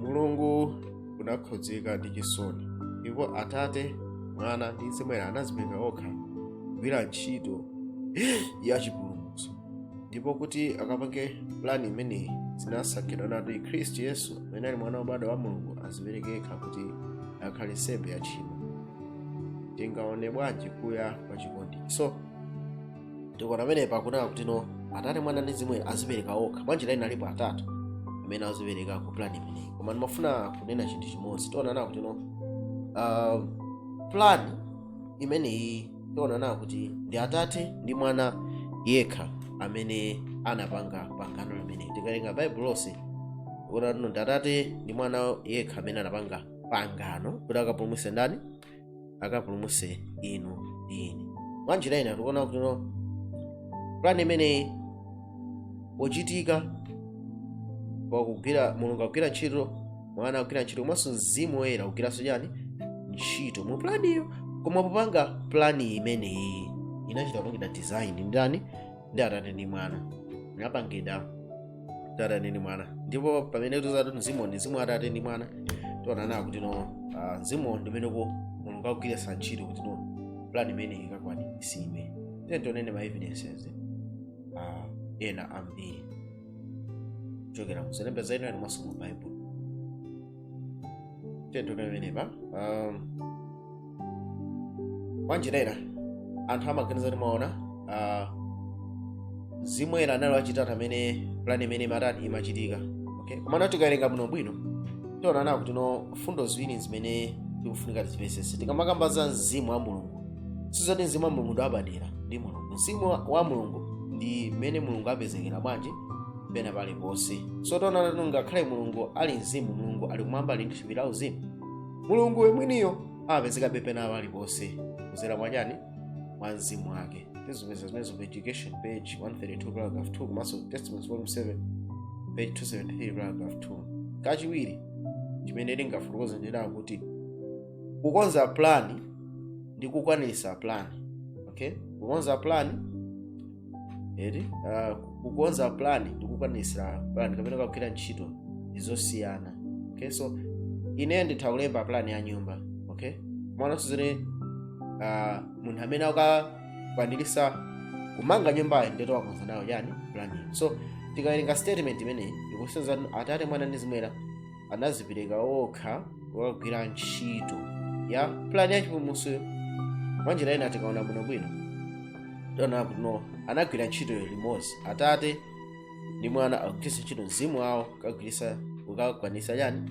mulungu anakhudzika ndi chisoni ndipo atate mwana ndi mzimu woyera anadzipereka okha kugwira ntchito ya chipulumutso ndipo kuti akapange plani imeneyi zinasankhidwa kuti khristu yesu amene ali mwana wobadwa wa mulungu azipereke yekha kuti akhale nsembe ya tchimo tingaone bwanji kuya kwa chikondi so tikuona pamenepa akunena kuti no atate mwana ndi mzimu woyera azipereka okha mwanjira ina alipo atatu amene azipereka ku plan imeneyi koma ndimafuna kunena chinthu chimodzi tionana kuti no uh, plan imeneyi tionana kuti ndi atate ndi mwana yekha amene anapanga pangano limeneli tikawerenga baibulo lonse tikuona kuti ndi atate ndi mwana yekha amene anapanga pangano kuti akapulumutse ndani akapulumuse inu ndi ine mwanjira ina tikuona kuti no pulani imeneyi pochitika pakugwira mulungu akugwira ntchito mwana akugwira ntchito komanso mzimu woyera akugwiranso chani ntchito mu pulaniyo koma popanga pulani imeneyi inachita kupangidwa design ndi ndani ndi atate ndi mwana inapangidwa ndi atate ndi mwana ndipo pamene tikuti mzimu ndi mzimu wa atate ndi mwana tionana kuti no ah, mzimu ndi umeneyo mulungu akugwiritsa ntchito kuti no plan imeneyi ikakwanitsidwe then tionanso ma evidences ah, ena ambiri kuchokera mu zolemba za inawake komanso mu bible tikuona pamenepa um, mwanjira ina anthu amaganiza kuti mwina uh, mzimu woyera anali wachitatu pamene plan imene imatani imachitika okay komano tikawerenga bwino bwino tionano kuti no mfundo ziwiri zimene tikufunika tizimvetsetse tikamakamba za mzimu wa mulungu sizoti mzimu wa mulungu ndi wapadera ndi mulungu mzimu wa- wa mulungu ndi mmene mulungu apezekera bwanji pena paliponse so tionana kuti ngakhale mulungu ali mzimu mulungu ali kumwamba ali ndi thupi la uzimu mulungu mwiniyo amapezekabe pena paliponse kuzera mwachani mwa mzimu wake tizipeza zimenezo pa education page 132 paragraph 2 komanso testimonies volume 7 page 273 paragraph 2 kachiwiri chimene tingafotokoze ndi chakuti kukonza plani ndi kukwanirisa plani okay kukonza plani eti ah, kukonza plan ndi kukwanirisa plan kapena kugwira ntchito ndi zosiyana okay so ine nditha kulemba plan ya nyumba okay koma nanso sizoti ah, munthu amene akakwanirisa kumanga nyumbayo ndi amene wakonza nayo chani planiyo so tikawerenga statement imeneyi ikusonyeza kuti atate mwana ndi mzimu woyera anazipereka okha kukagwira ntchito ya pulani ya chipulumutsoyo mwanjira ina tikaona bwinobwino tiona kuti no anagwira ntchito limodzi atate ndi mwana akugwiritsa ntchito mzimu wawo kukagwiritsa kukakwanisa chani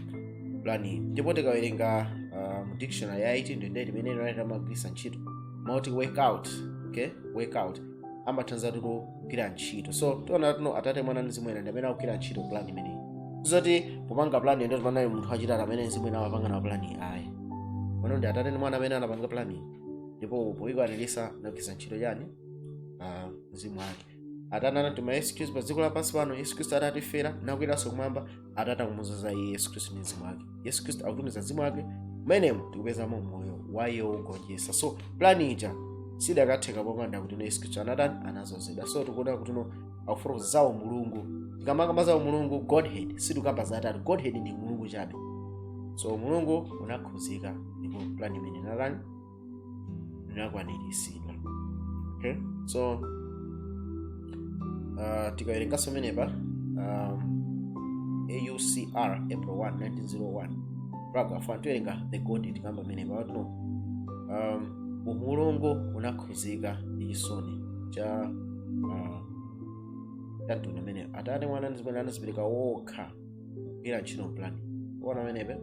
pulaniyi ndipo tikawerenga uh, mu dictionary ya 1828 imene ellen white amagwiritsa ntchito mau oti work out okay work out amatanthauza kuti kugwira ntchito so tiona kuti no atate mwana ndi mzimu woyera ndi amene akugwira ntchito plan imeneyi zoti popanga plan ndi panali munthu wachitatu amene mzimu woyera amapanga na plan ayi pano ndi atate ndi mwana amene anapanga plan iyi. ndipo poikwanirisa anagwiritsa ntchito chani Ah, mzimu wake atate anatuma yesu khristu pa dziko lapansi pano yesu khristu adatifera nakweranso kumwamba atate akumuzoza iye yesu khristu ndi mzimu wake yesu khristu akutumiza mzimu wake mmenemo tikupezamo moyo wa iye wogonjetsa so plani ija sidakatheka popanda kuti yesu khristu anatani anazozedwa so tikuona kuti no akufotokoza za umulungu tikamakamba za umulungu godhead sitikamba za atatu godhead ndi umulungu chabe so umulungu unakhuzika ndipo plani imeneyi inatani inakwaniritsidwa okay? so uh, tikawerenganso pamenepa um, aucr april 1 1901 paragraph 1 tiwerenga the godhead tikamba pamenepa kuti no um, umulungu unakhuzika ndi chisoni cha uh, cha mtundu umeneyo atate mwana ndi mzimu woyera anazipereka wokha kugwira ntchito plan kuona pamenepe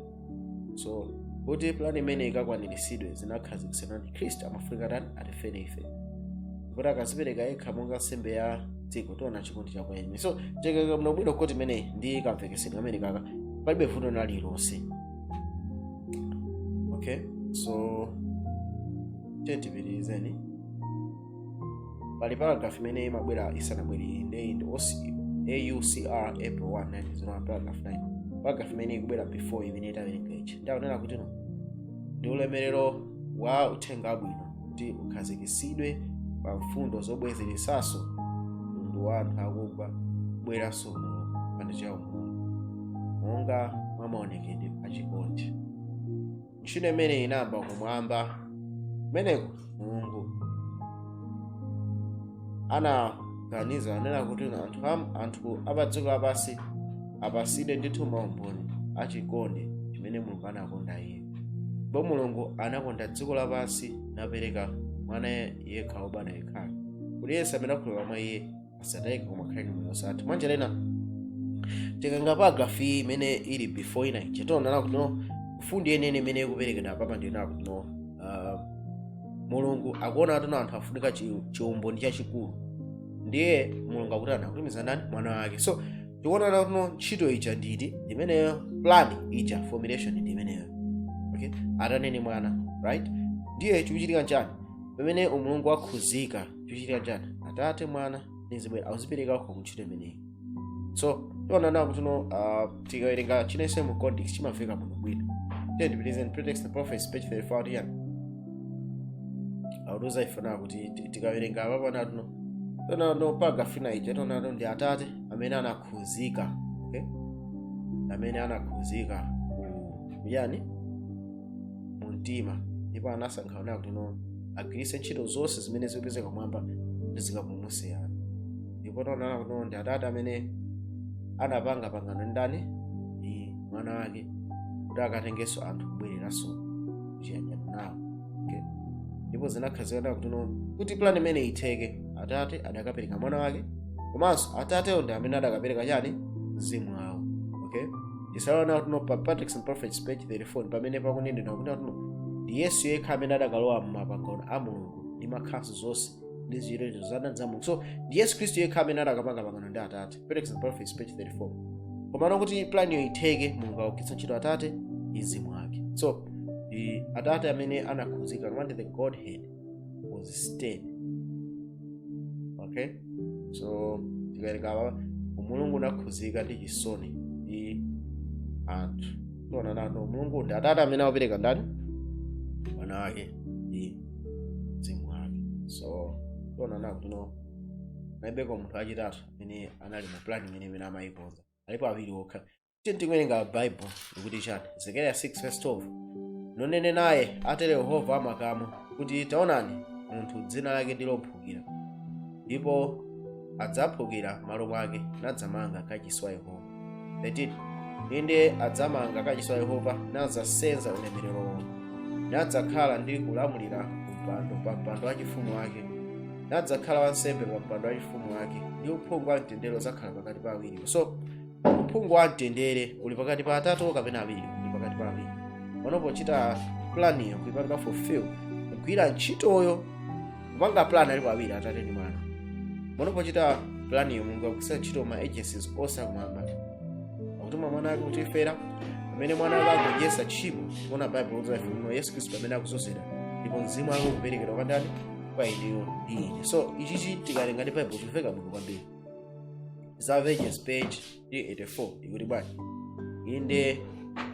so kuti plan imeneyi ikakwaniritsidwe zinakhazikitsidwa kuti khristu amafunika atani atifere ife kuti akazipereka yekha monga nsembe ya dziko tiona chikondi chakuya so tikuona bwinobwino kuti imeneyi ndi kamvekesedwe kamene kaka palibe vuto lina lililonse okay so tiyeni tipitirizeni pali paragraph imene imabwera isanabwere iyi ndeyi ndi OC- aucr april 1 1901 paragraph 9 paragraph imene ikubwera before imeneyi tawerenga ichi ndi akunena kuti no ndi ulemerero wa uthenga wabwino kuti ukhazikitsidwe pa mfundo zobwezeretsanso mtundu wa anthu akugwa kubweranso mu chipanda cha umunthu monga mwa maonekedwe a chikondi ntchito imeneyi inayamba kumwamba kumeneko mulungu anaganiza kunena kuti anthu am- anthu apadziko lapansi apasidwe ndithu maumboni achikondi chimene mulungu anakonda iye ndipo mulungu anakonda dziko lapansi napereka mwana yekha wobadwa yekhayo kuti yense amene akhulupirira mwa iye asatayike koma akhale ndi moyo osatha mwa njira ina tikawerenga paragraph iyi imene ili before ina ija tiona nakuti no mfundo yenene imene ikuperekedwa apapa ndi nakuti no uh, mulungu akuona kuti no anthu afunika chi- chiumboni chachikulu ndiye mulungu akutani akutumiza ndani mwana wake so tikuona nakuti no ntchito ija nditi imeneyo plan ija formulation ndi imeneyo okay atate ndi mwana right ndiye chikuchitika nchani pamene umulungu wakhuzika chikuchitika nchani atate mwana ndi mzimu woyera akuzipereka okha kuntchito imeneyi so tiona nawo kuti no uh, tikawerenga chinense mu context chimamveka bwino bwino then depends on patriarchs and prophets page 34 tiyan akutiuza ife nawo kuti ti- tikawerenga apapo nakuti no tiona no paragraph ina ija tiona no ndi atate amene anakhuzika okay amene anakhuzika ku yani mu mtima ndipo anasankha kunena kuti no agwiritse ntchito zonse zimene zikupezeka kumwamba ndi zikapulumutse anthu ndipo taonana kuti no ndi atate amene anapanga pangano ndi ndani ndi mwana wake kuti akatengenso anthu kubwereranso kuchiyanjano nawo okay? ndipo zinakhazikana kuti no kuti plan imeneyi itheke atate adakapereka mwana wake komanso atatewo ndi amene adakapereka chani mzimu wawo okay tizaona kuti no pa patriarchs and prophets page 34 pamene pakunenedwa kuti no ndi yesu yekha amene adakalowa m'mapangano a mulungu ndi ma counsels onse ndi ziyerezo za ndani za mulungu so ndi yesu khristu yekha amene adakapanga pangano ndi atate patriarchs and prophets page 34 komano kuti planiyo itheke mulungu akugwiritsa ntchito atate ndi mzimu wake so ndi atate amene anakhuzika akamati the godhead was stirred okay so tikawerenga apa umulungu unakhuzika ndi chisoni ndi anthu tiona nakuti no umulungu ndi atate amene akupereka ndani mwana wake ndi mzimu wake so tiona nakuti no palibeko munthu wachitatu amene anali mu plan imeneyi amene amayikonza alipo awiri okha tiyeni tikawerenga baibulo likuti chani zekariya 6 verse 12 nunene naye atero yehova wa makamu kuti taonani munthu dzina lake ndi lophukira ndipo adzaphukira m'malo mwake nadzamanga kachisi wa yehova 13 inde adzamanga kachisi wa yehova nadzasenza ulemerero wake nadzakhala ndi kulamulira kumpando pa mpando wachifumu wake nadzakhala wansembe pa mpando wachifumu wake ndi uphungu wa mtendere udzakhala pakati pa awiriwo so uphungu wa mtendere uli pakati pa atatu kapena awiri uli pakati pa awiri pano pochita planiyo kuipanga fulfill kugwira ntchitoyo kupanga plan alipo awiri atate ndi mwana pano pochita planiyo mulungu akugwiritsa ntchito ma agencies onse akumwamba akutuma mwana wake kutifera pamene mwana wake akugonjetsa tchimo kuona baibulo kuti afunino yesu khristu pamene akuzozera ndipo mzimu wake ukuperekedwa kwa ndani kwa ineyo ndi ine so ichichi tikawerenga ndi baibulo chimveka bwino kwambiri desire of ages page 384 ikuti bwanji inde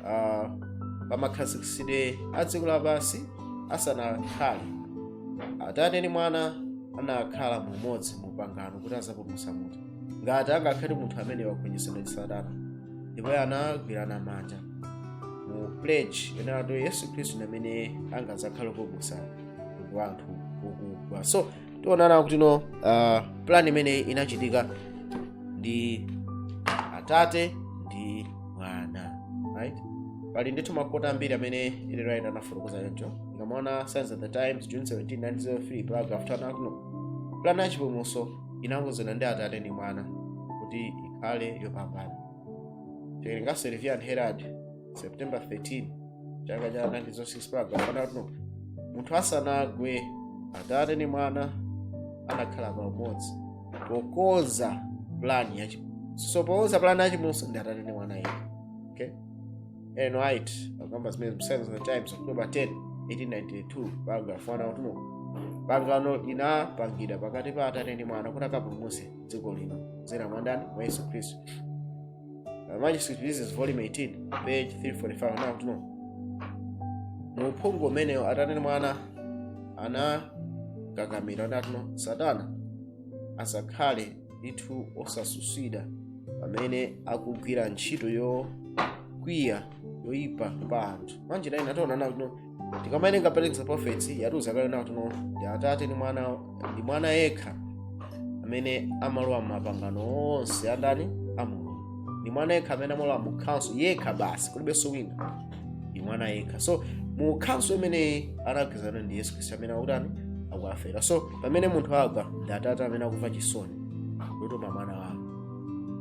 uh, pamakhazikitsidwe a dziko lapansi asanakhale atate ndi mwana anakhala mumodzi mu pangano kuti azapulumutsa munthu ngati angakhale munthu amene wagonjetsedwa ndi satana ndipo anagwirana manja mu pledge yonena kuti yesu khristu ndi amene angazakhala kupulumutsa mtundu wa anthu okugwa so tionana kuti no uh, plan imeneyi inachitika ndi atate ndi mwana right pali ndithu makota ambiri amene ellen white anafotokoza choncho tikamaona signs of the times june 17 1903 paragraph 2 akuti no plan ya chipulumutso inakonzedwa ndi atate ndi mwana kuti ikhale yopambana tikawerenga review and herald september 13 chaka cha 1906 paragraph 1 akuti munthu asanagwe atate ndi mwana anakhala pamodzi pokonza plani ya chipulumutso so pokonza plani ya chipulumutso ndi atate ndi mwana yekha okay Ellen White akamba zimene Signs of the Times October 10 1892 paragraph 1 akuti no pangano linapangidwa pakati pa atate ndi mwana kuti akapulumutse dziko lino kudzera mwa ndani mwa yesu khristu Uh, manuscript releases volume 18 page 345 akuti no mu uphungu umenewo atate ndi mwana anakakamira nati no satana asakhale ndithu osatsutsidwa pamene akugwira ntchito yokwiya yoyipa pa anthu mwanjira ina tionana kuti no tikamawerenga patriarchs and prophets yatiuza kale nati no ndi atate ndi mwana ndi mwana yekha amene amalowa mapangano onse a ndani a mulungu ndi mwana yekha amene amalowa mu council yekha basi kulibenso wina ndi mwana yekha so mu council imeneyi anagwirizana ndi yesu khristu amene akutani akuafera so pamene munthu agwa ndi atate amene akumva chisoni kutuma mwana wawo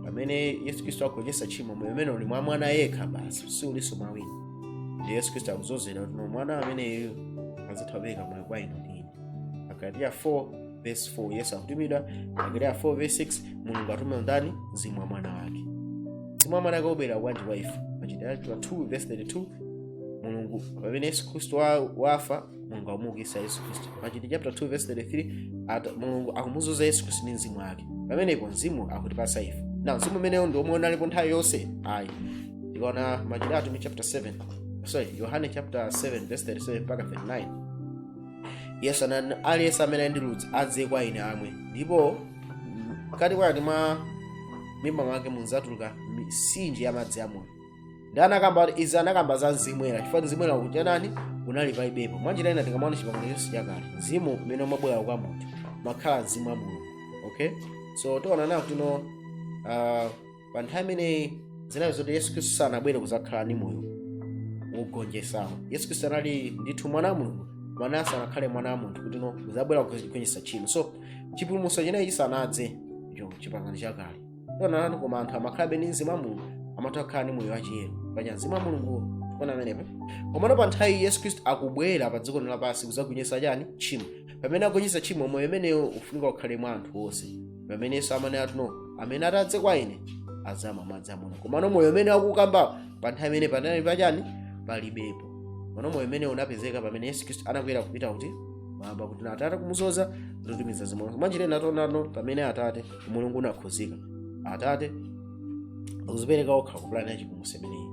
pamene yesu khristu agonjetsa tchimo moyo umene uli mwa mwana yekha basi si ulinso mwa wina ndi yesu khristu akuzozera kuti no mwana ameneyu azitha kupereka moyo kwa inu ndi ine agalatiya 4 verse 4 yesu akutumidwa agalatiya 4 verse 6 mulungu atuma ndani mzimu wa mwana wake mzimu wa mwana wake ubwera bwanji kwa ife machitidwe 2 verse 32 mulungu pamene yesu khristu wa- wafa mulungu akumuukitsa yesu khristu machitidwe chapter 2 verse 33 ati mulungu akumudzoza yesu khristu ndi mzimu wake pamenepo mzimu akutipasa ife na mzimu umenewo ndi omwe unalipo nthawi yonse ayi tikaona machitidwe atumwi chapter 7 sorry yohane chapter 7 verse 37 mpaka 39 yesu anati aliyense amene ali ndi ludzu adze kwa ine amwe ndipo mkati mwake mwa mimba mwake mudzatuluka mitsinje ya madzi amoyo ndi anakamba kuti izi anakamba za mzimu woyera chifukwa mzimu woyera kuchanani unali palibepo mwanjira ina tikamaona chipangano chonse chakale mzimu umene umabwera kwa munthu umakhala mzimu wa mulungu okay so tiona nawo kuti no uh, pa nthawi imeneyi zinali zoti yesu khristu sanabwere kuzakhala ndi moyo wogonjetsawo yesu khristu anali ndithu mwana wa mulungu mwana sanakhale mwana wa munthu kuti no kuzabwera kugonjetsa tchimo so chipulumutso chinechi chisanadze icho chipangano chakale tiona nawo koma anthu amakhalabe ndi mzimu wa mulungu amatha kukhala ndi moyo wachiyero paja mzimu wa mulunguwo tikuona pamenepo komano pa nthawi yesu khristu akubwera pa dziko lino lapansi kuzagonjetsa chani tchimo pamene agonjetsa tchimo moyo umenewo ufunika ukhale mwa anthu onse pamene yesu amanena kuti no amene atadze kwa ine azamwa madzi amoyo komano moyo umene akukambawo pa nthawi imene panali pachani palibepo komano moyo umene unapezeka pamene yesu khristu anakwera kupita kuti mmwamba kuti no atate kumudzoza ndikutumiza mzimuwo mwanjira ina tiona nawo pamene atate umulungu unakhudzika atate akuzipereka okha kupulani ya chipulumutso imeneyi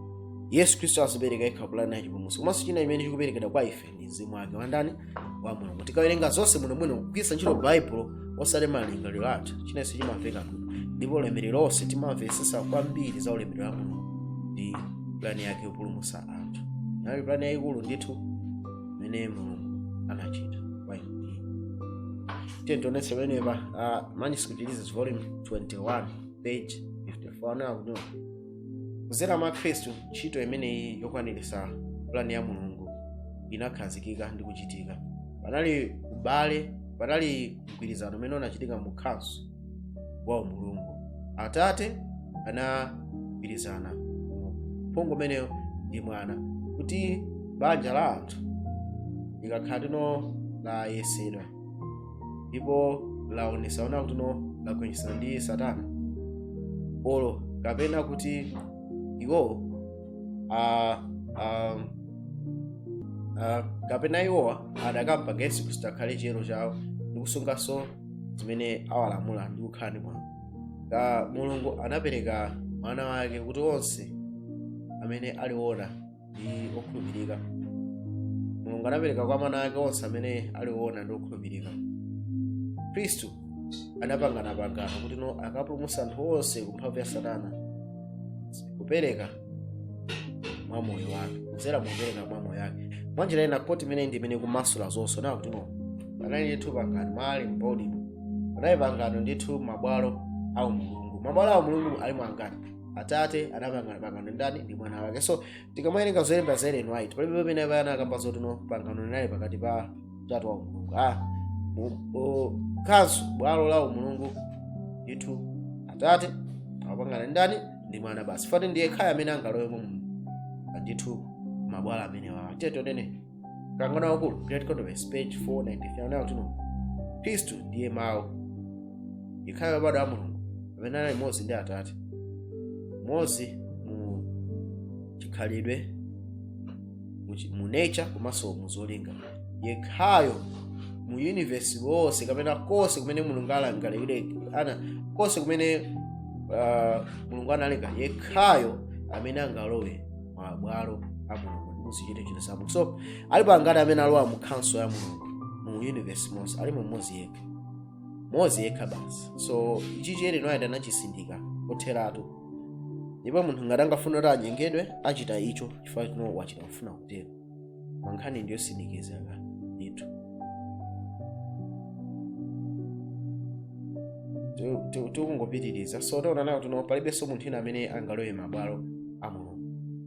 yesu khristu azipereka yekha kupulani ya chipulumutso komanso china imene chikuperekedwa kwa ife ndi mzimu wake wandani wa mulungu tikawerenga zonse bwinobwino kugwiritsa ntchito baibulo osati malingaliro athu chinanso chimamveka bwino ndipo ulemerero wonse timamvetsetsa kwambiri za ulemerero wa mulungu ndi pulani yake yopulumutsa anthu inali pulani yayikulu ndithu imene mulungu anachita tiyeni tionetse pamenepa uh, manuscript this is volume 21 page 54 now kuno kudzera mwa khristu ntchito imeneyi yokwaniritsa pulani ya mulungu inakhazikika ndi kuchitika panali ubale panali mgwirizano umene unachitika mu council wa umulungu atate anagwirizana mu uphungu umeneyo ndi mwana kuti banja la anthu likakhala kuti no layesedwa ndipo laonesa ona kuti no lagonjetsedwa ndi satana olo kapena kuti iwowo ah, ah, ah, kapena iwowa adakamba yesu khristu akhale chiyero chawo ndi kusunganso zimene awalamula ndi kukhala ndi mwambo ka mulungu anapereka mwana wake kuti onse amene aliwona ndi okhulupirika mulungu anapereka kwa mwana wake onse amene ali woona ndi okhulupirika khristu anapangana pangano kuti no akapulumutsa anthu onse ku mphamvu ya satana kupereka mwa moyo wake kudzera mukupereka mwa moyo wake mwa njira ina quote imeneyi ndi imene ikumasula zonse nakuti no panali ndithu pangano mali mbodimo panali pangano ndithu mabwalo a umulungu mabwalo a umulungu alimo angati atate anapangana ndi ndani ndi mwana wake so tikamawerenga zolemba za ellen white palibe pamene abaye anakamba zoti no pangano linali pakati pa utatu wa mulungu ah, mu- o- council bwalo la umulungu ndithu atate akupangana ndi ndani ndi mwana basi poti ndi yekhayo amene angalowe mu ndithu mabwalo amenewa tiye tione mkangano waukulu great controversy page 493 anena kuti no khristu ndiye mawu yekhayo wobadwa wa mulungu amene anali mmodzi ndi atate mmodzi mu chikhalidwe mu chi- mu nature komanso mu zolinga yekhayo mu universe wonse kapena konse kumene mulungu alangalire ana konse kumene uh, mulungu analenga yekhayo amene angalowe mabwalo a mulungu ndi muzichitochito za mulungu so alipo angati amene alowa mu council ya mulungu mu universe monse alimo mmodzi yekha mmodzi yekha basi so ichi ellen white anachitsindika kotheratu ndipo munthu ngati angafuna kuti anyengedwe achita icho chifukwa chino wachita kufuna kutero ma nkhani ndiyotsindikizika ndithu Ti- ti- tikungopitiriza so taona kuti no palibenso munthu ina amene angalowe mabwalo a mulungu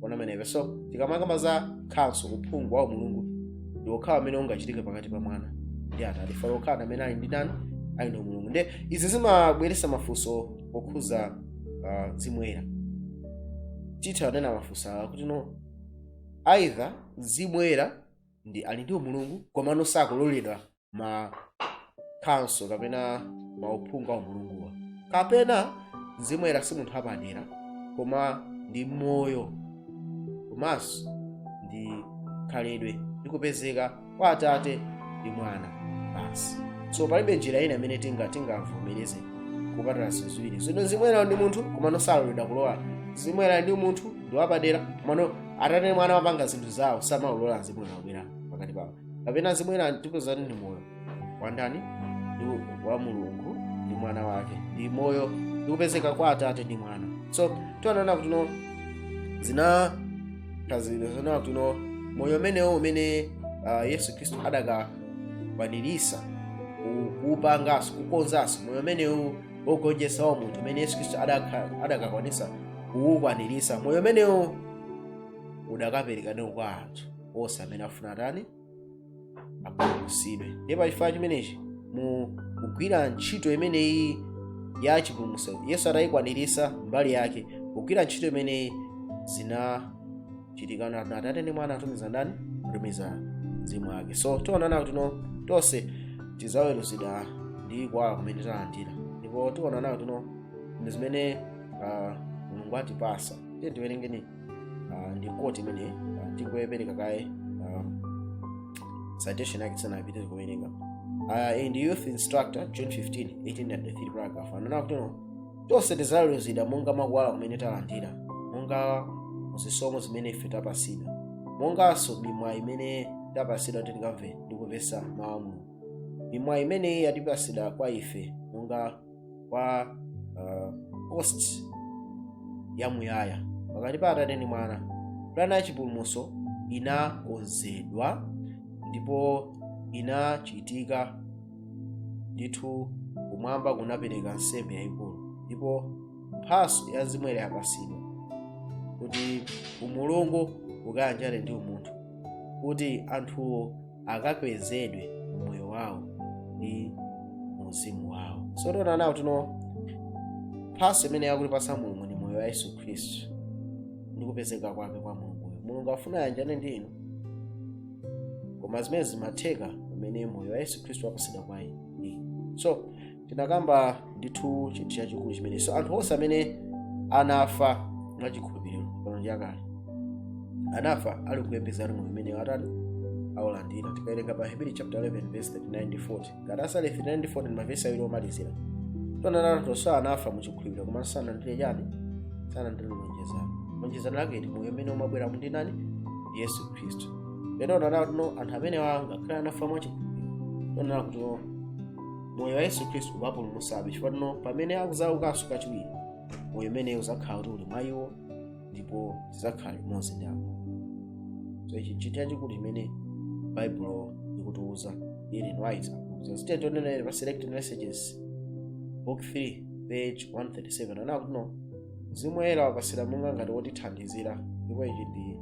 ona ameneyo so tikamakamba za council uphungu wa mulungu ndi okhawo amene ungachitike pakati pa mwana ndi atate fala okhawa amene ali ndi chani ali ndi umulungu nde izi zimabweresa mafunso okhuza ah, mzimu woyera titha nena mafunso awa kuti no either mzimu woyera ndi ali ndi umulungu komano sakuloledwa ma council kapena mauphungu a umulunguwa kapena mzimu woyera si munthu apadera koma ndi moyo komanso ndi khalidwe ndi kupezeka kwa atate ndi mwana basi so palibe njira ina imene tinga tingavomereze kupatula ziwiri zino mzimu woyera ndi munthu komano saloledwa kulowa mzimu woyera ndi munthu ndi wapadera komano atate ndi mwana apanga zinthu zawo samalola mzimu woyera kubwera pakati pawo kapena mzimu woyera tipezani ndi moyo wa ndani ndi wa mulungu ndi mwana wake ndi moyo ndi kupezeka kwa atate ndi mwana so tiona kuti no zina tazizionatu no moyo umenewo umene uh, yesu khristu adakakwanirisa kuupangaso kukonzaso moyo umenewu wogonjesa wa munthu umene yesu khristu adaka- adakakwanisa kuukwanirisa moyo umenewu udakapereka ndiye kwa anthu onse amene afuna atani apulumutsidwe ndiye pa chifukwa chimenechi mu kugwira ntchito imeneyi ya chipulumutso yesu atayikwaniritsa mbali yake kugwira ntchito imeneyi zinachitika na atate ndi mwana atumiza ndani atumiza mzimu wake so tionana kuti no tonse tidzaweruzidwa ndi kuwala kumene talandira ndipo tionana kuti no ndi zimene ah, mulungu atipasa tiye tiwerengeni uh, ndi quote imene uh, tingoyipereka kaye uh, citation yake tisanapite kuwerenga uh, the youth instructor june 15 1893 paragraph ananena kuti no tonse tidzaweruzidwa monga mwa kuwala kumene talandira monga zisomo zimene ife tapasidwa monganso mimwayi imene tapasidwa kuti tikamve ndi kumvetsa mawu a mulungu mimwayi imeneyi yatipasidwa kwa ife monga kwa uh, host yamuyaya pakati pa atate ndi mwana pulani ya chipulumutso inakonzedwa ndipo inachitika ndithu kumwamba kunapereka nsembe yayikulu ndipo mphaso ya mzimu woyera yapatsidwa kuti umulungu ukayanjane ndi umunthu kuti anthuwo akakwezedwe mmoyo wawo ndi muzimu wawo so tiona nawo kuti no mphaso imene akutipasa mulungu ndi moyo wa yesu khristu ndi kupezeka kwake kwa mulunguyo mulungu afuna ayanjane ndi inu koma zimenezi zimatheka pamene moyo wa yesu khristu wapasidwa kwa inu so tinakamba ndithu chinthu chachikulu chimene so anthu onse amene anafa mwachikhulupiriro pano ndi akale anafa ali kuyembekezera moyo umene atati aulandira tikawerenga pa aheberi chapter 11 verse 39 ndi 40 ngati verse 39 ndi 40 ndi mavesi awiri omalizira tionana kuti onse anafa muchikhulupiriro koma sanalandire chani sanalandire lonjezano lonjezano lake ndi moyo umene umabwera ndi ndani yesu khristu lero tionana no anthu amene angakhale anafa mwachikhulupiriro tionana kuti moyo wa yesu khristu uwapulumutsabe chifukwa kuti no pamene akuzaukanso kachiwiri moyo umenewu uzakhala kuti uli mwa iwo ndipo azakhala limodzi ndi apo so ichi nchinthu chachikulu chimene baibulo likutiuza ellen white akutiuza tiye tionenso pa selected messages book 3 page 137 akuti no mzimu woyera wapasidwa monga ngati wotithandizira ndipo ichi ndi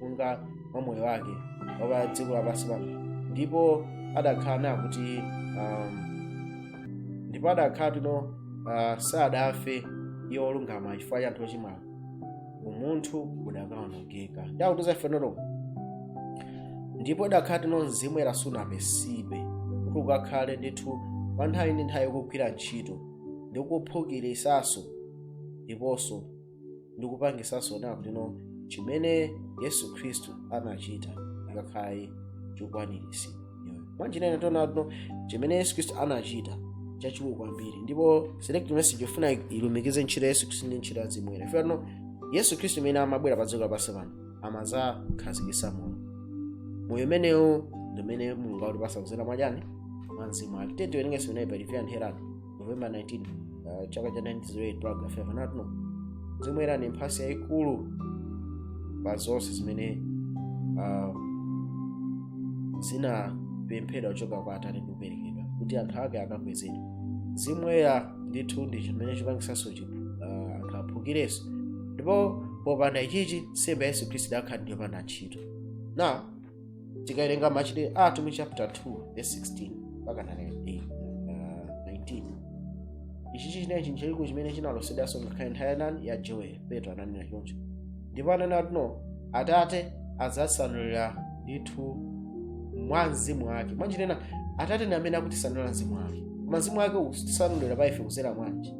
monga mwa moyo wake wa pa dziko lapansi pano ndipo adakhala naye kuti um, ndipo adakhala tino uh, sadafe iye olungama chifukwa cha anthu ochimwa umunthu udakaonongeka chakutuza ife notoko ndipo idakhala tino mzimu woyera sunapasidwe kuti ukakhale ndithu pa nthawi ndi nthawi kugwira ntchito ndi kuphukirisanso ndiponso ndi kupangisanso kunena kuti no chimene yesu khristu anachita chikakhale chokwaniritsidwa mwanjira ina tiona kuti no chimene yesu khristu anachita chachikulu kwambiri ndipo select message yofuna ilumikize ntchito ya yesu khristu ndi ntchito ya mzimu woyera ife no yesu khristu amene amabwera pa dziko lapansi pano amazakhazikisa moyo moyo umenewu ndi umene mulungu akutipasa kuzera mwachani mwa mzimu wake titawerenganso unayi pa review and herald novemba 19 uh, chaka cha 1908 paragraph 5 anati no mzimu woyera ndi mphatso yayikulu pa zonse zimene uh, zinapemphedwa kuchoka kwa atate ndi kuperekedwa kuti anthu ake akakwezedwe mzimu woyera ndithu ndi chimene chipangisanso chiphu uh, anthu aphukirenso ndipo popanda ichichi nsembe ya yesu khristu idakhala ndi yopanda ntchito na tikawerenga machitidwe a atumwi chapter 2 verse 16 mpaka 19 ichi chichinena chinthu chachikulu chimene chinalosedwanso ngakhale nthawi ya ndani ya joel petro ananena choncho ndipo ananena kuti no atate adzasanulira ndithu mwa mzimu wake mwanjira ina atate ndi amene akutisanulira mzimu wake koma mzimu wake usanulira pa ife kuzera mwanji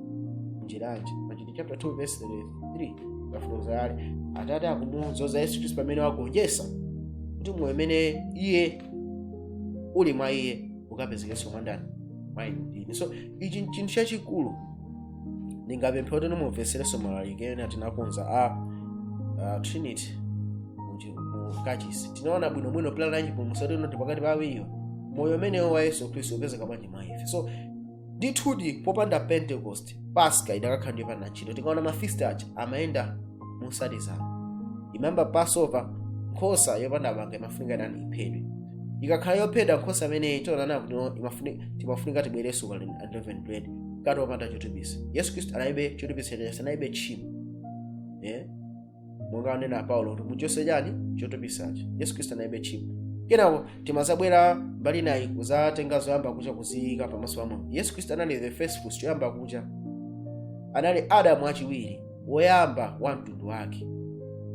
njira yanji in chapter 2 verse 33 kafotokoza ali atate akumudzoza yesu khristu pamene wagonjetsa kuti moyo umene iye uli mwa iye ukapezekenso mwa ndani mwa inu ndi ine so ichi nchinthu chachikulu ndingapemphe kuti mumveserenso malalike ena tinakonza a a trinity muchi- mu kachisi tinaona bwinobwino plan ya chipulumutso tino ndi pakati pa awiriwo moyo umenewo wa yesu khristu upezeka bwanji mwa ife so ndithudi popanda pentecost paska idakakhala ndi yopanda ntchito tikaona mafeast aja amayenda mosatizana imayamba passover nkhosa yopanda banga imafunika ndani iphedwe ikakhala yophedwa nkhosa imeneyi tionana kuti no, imafuni- timafunika tibwerenso kwa unleavened bread mkate wopanda chotupisa yesu khristu anaibe chotupisa chenesa anaibe tchimo yeah? monga anena paulo kuti muchose chani chotupisachi yesu khristu analibe tchimo kenako timazabwera mbali inayi kuzatenga zoyamba kucha kuziyika pamaso pa mulungu yesu khristu anali the first fruits choyamba kucha anali adamu wachiwiri woyamba wa mtundu wake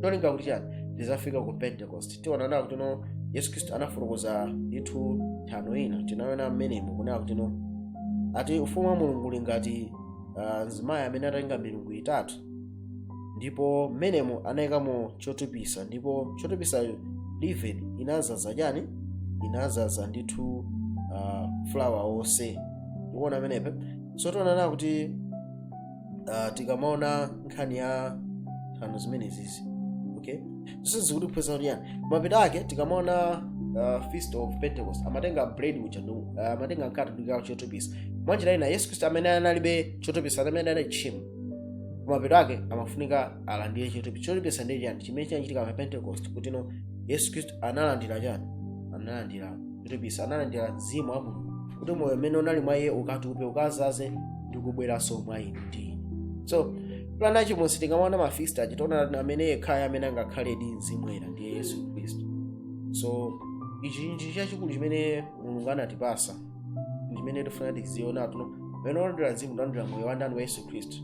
cholinga kuti chani tizafika ku pentecost tiona nawo kuti no yesu khristu anafotokoza ndithu nthano ina tinaona mmenemo kunena kuti no ati ufumu wa mulungu uli ngati uh, mzimayi amene atatenga milingo itatu ndipo mmenemo anayikamo chotupisa ndipo chotupisayo leaven inazaza chani inazaza ndithu uh, flour onse tikuona pamenepa so tionana kuti uh, tikamaona nkhani ya nthano zimenezi okay zonse zikutiphunzitsa kuti yani mapeto ake tikamaona uh, feast of pentecost amatenga bread uja ndipo uh, amatenga mkate ndi kuikamo chotupisa mwanjira ina yesu khristu amene analibe chotupisa amene anali tchimo kumapeto ake amafunika alandire chotupisa chotupisa ndi chani chimene chinachitika pa pentecost kuti yesu khristu analandira chani analandira chotupisa analandira mzimu wa mulungu kuti moyo umene unali mwa iye ukatupe ukazaze ndi kubweranso mwa inu ndi ine so plan ya chipulumutso tikamaona mafeast aja tiona amene yekhayo amene angakhale ndi mzimu woyera ndiye yesu khristu so ichi ndi chachikulu chimene mulungu anatipasa chimene tifuna tiziona tuno pamene walandira mzimu walandira moyo wa ndani wa yesu khristu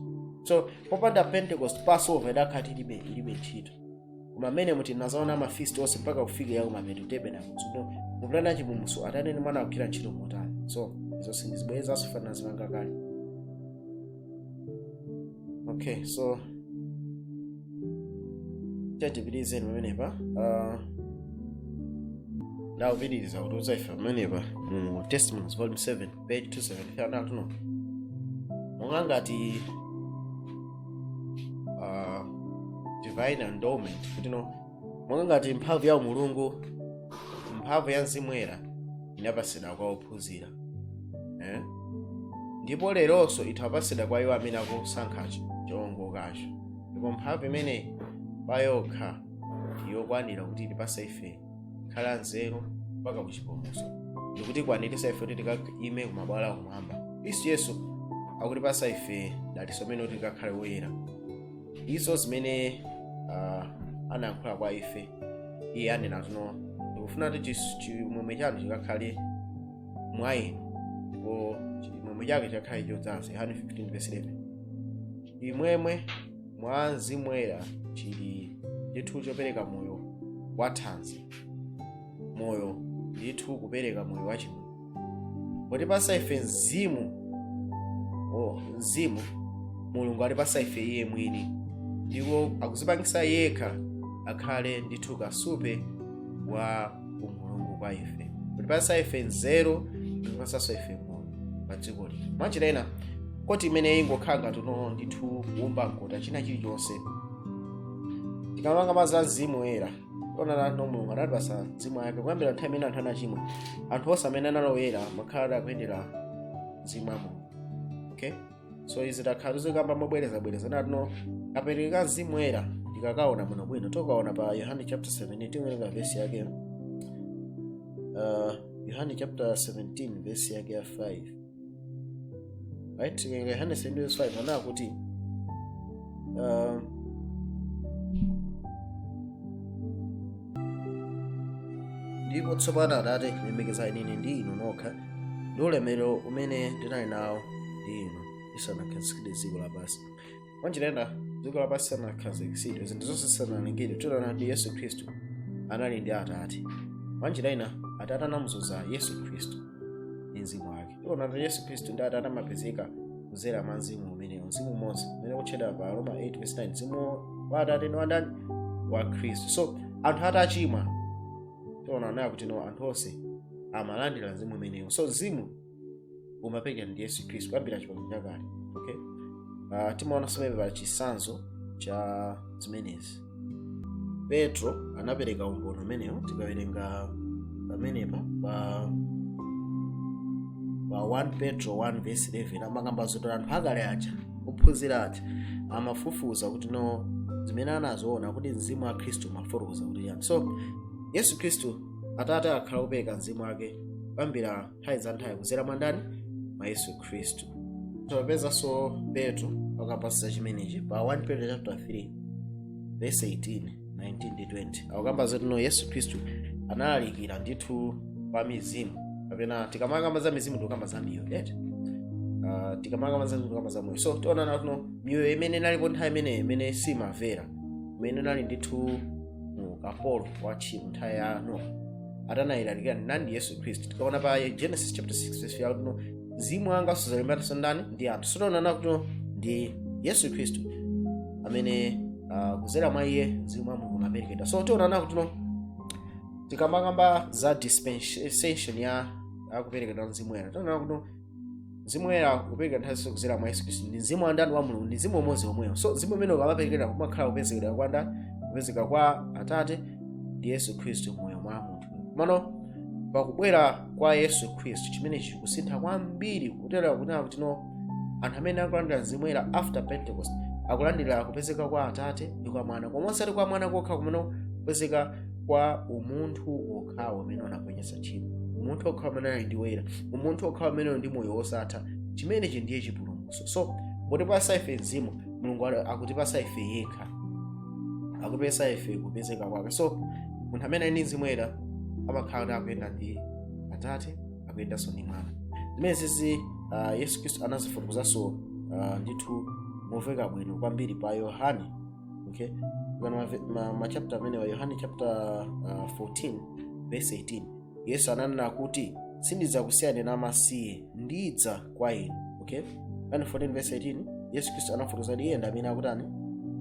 so popanda pentecost passover idakhala tilibe ilibe ntchito koma mmene muti nazaona mafeast onse mpaka kufika yaku mapeto tabernacle so muplan ya chipulumutso atate ndi mwana akugwira ntchito motani so izo sindizibwerezanso fanana zimanga kale okay so tatipitirizeni pamenepa uh, now akupitiriza kutiuza ife pamenepa mu testimonies volume 7 page 273 anatuno monga ngati uh, divine endowment kuti no monga ngati mphamvu ya umulungu mphamvu ya mzimu woyera inapatsidwa kwa ophunzira eh? ndipo leronso itha kupatsidwa kwa iwo amene akusankha choongokacho ndipo mphamvu imeneyi pa yokha ndiyokwanira kuti itipase ife kukhala anzeru mpaka kuchipulumutso ndikutikwaniritsa ife kuti tikaime kumabwalo akumwamba khristu yesu akutipasa ife dalitso limene kuti tikakhale woyera izo zimene uh, anayankhula kwa ife iye anena tuno ndikufuna kuti chis- chimwemwe chanu chikakhale mwa inu ndipo chimwemwe chake chikakhale chodzaza yohane 15 verse 11 chimwemwe mwa mzimu woyera chili ndithu chopereka moyo wathanzi moyo ndithu kupereka moyo wachimwemwe potipasa ife mzimu oh, mzimu mulungu atipasa ife iye mwini ndipo akuzipangisa yekha akhale ndithu kasupe wa umulungu kwa ife potipasa ife nzeru kutipasanso ife moyo pa dziko lino mwanjira ina koti imene ingokhala ngati tuno ndithu kuumba mkota china chilichonse tikamakamba za mzimu woyera ona kuti no mulungu anatipasa mzimu wake kuyambira nthawi imene anthu anachimwa anthu onse amene anali oyera amakhala akuyendera mzimu wa mulungu okay so izi takhala tikuzikamba mobwerezabwereza kuti no apereka mzimu woyera tikakaona bwinobwino tikaona pa yohane chapter 17 tiwerenga vesi yake uh, yohane chapter 17 vesi yake ya 5 right tiwerenga yohane 17 verse 5 ananena kuti um, ndipo tsopano atate lemekezani ine ndi inu nokha ndi ulemerero umene ndinali nawo ndi inu lisanakhazikitsidwe dziko lapansi mwanjira ina dziko lapansi lisanakhazikitsidwe zinthu zonse zisanalengedwe tiona kuti yesu khristu anali ndi atate mwanjira ina atate anamudzoza yesu khristu ndi mzimu wake tiona kuti yesu khristu ndi atate amapezeka kuzera mwa mzimu umenewo mzimu umodzi umene ukutchedwa pa roma 8 verse 9 mzimu wa atate ndi wa ndani wa khristu so anthu atachimwa tiona nayo kuti no anthu onse amalandira mzimu umenewo so mzimu umaperekedwa ndi yesu khristu kuyambira chipangano chakale okay uh, timaonanso amene pa chisanzo cha zimenezi petro anapereka umboni umenewo tikawerenga pamenepa pa pa 1 petro 1 verse 11 amakamba zoti anthu akale aja ophunzira aja amafufuza kuti no zimene anaziona kuti mzimu wa khristu umafotokoza kuti chiyani so yesu khristu atate akhala akupereka mzimu wake kuyambira nthawi za nthawi kudzera mwa ndani mwa yesu khristu tipezanso petro akukamba za chimenechi pa 1 petro chapter 3 verse 18 19 ndi 20 akukamba zoti no yesu khristu analalikira ndithu pa mizimu kapena tikamakamba za mizimu tikukamba za miyoyo right? uh, tikamakamba za mizimu tikukamba za moyo so tiona kuti no miyoyo imene inalipo nthawi imeneyo imene simamvera imene inali ndithu mu ukapolo wa tchimo nthawi ya nowa anayilalikira ndi ndani yesu khristu tikaona pa genesis chapter 6 verse ya kuti no mzimu wanga suzalimbananso ndani ndi anthu so tiona kuti no ndi yesu khristu amene uh, kuzera mwa iye mzimu wa mulungu umaperekedwa so tiona kuti no tikamakamba za dispensation ya kuperekedwa mzimu woyera tiona kuti no mzimu woyera ukupereka nthawi zonse kudzera mwa yesu khristu ndi mzimu wa ndani wa mulungu ndi mzimu umodzi womwewo so mzimu umene ukamaperekedwa kumakhala kupezekera kwa ndani kupezeka kwa atate ndi yesu khristu mmoyo mwa munthu komano pakubwera kwa yesu khristu chimene chikusintha kwambiri kutera kunena kuti no anthu amene akulandira mzimu woyera after pentecost akulandira kupezeka kwa atate ndi kwa mwana koma osati kwa mwana kokha komanso kupezeka kwa umunthu wokhawo umene unagonjetsa wopanda tchimo umunthu okha amene ali ndi woyera umunthu okha ameneyo ndi moyo wosatha chimenechi ndiye chipulumutso so potipasa ife mzimu mulungu ali- akutipasa ife yekha akutipasa ife kupezeka kwake so munthu amene ali ndi mzimu woyera amakhala kuti akuyenda ndi atate akuyendanso ndi mwana zimenezi uh, yesu khristu anazifotokozanso uh, ndithu momveka bwino kwambiri pa yohane okay kugano mave- ma- machapta amenewa yohane chapter uh, 14 verse 18 yesu ananena kuti sindidzakusiyani namasiye ndidza kwa inu okay yohane 14 verse 18 yesu khristu anafotokoza kuti iye ndi amene akutani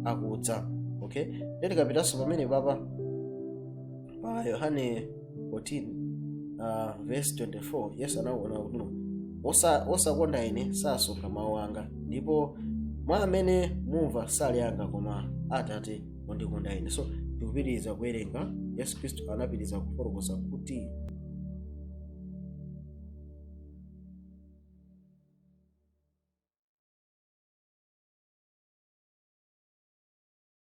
akudza okay ndeti tikapitanso pamene papa pa yohane 14 uh, verse 24 yesu ananena kuti "Osa- osakonda ine sasunga mawu anga ndipo mawu amene mumva sali anga koma atate ondikonda ine so tikupitiriza kuwerenga yesu khristu anapitiriza kufotokoza kuti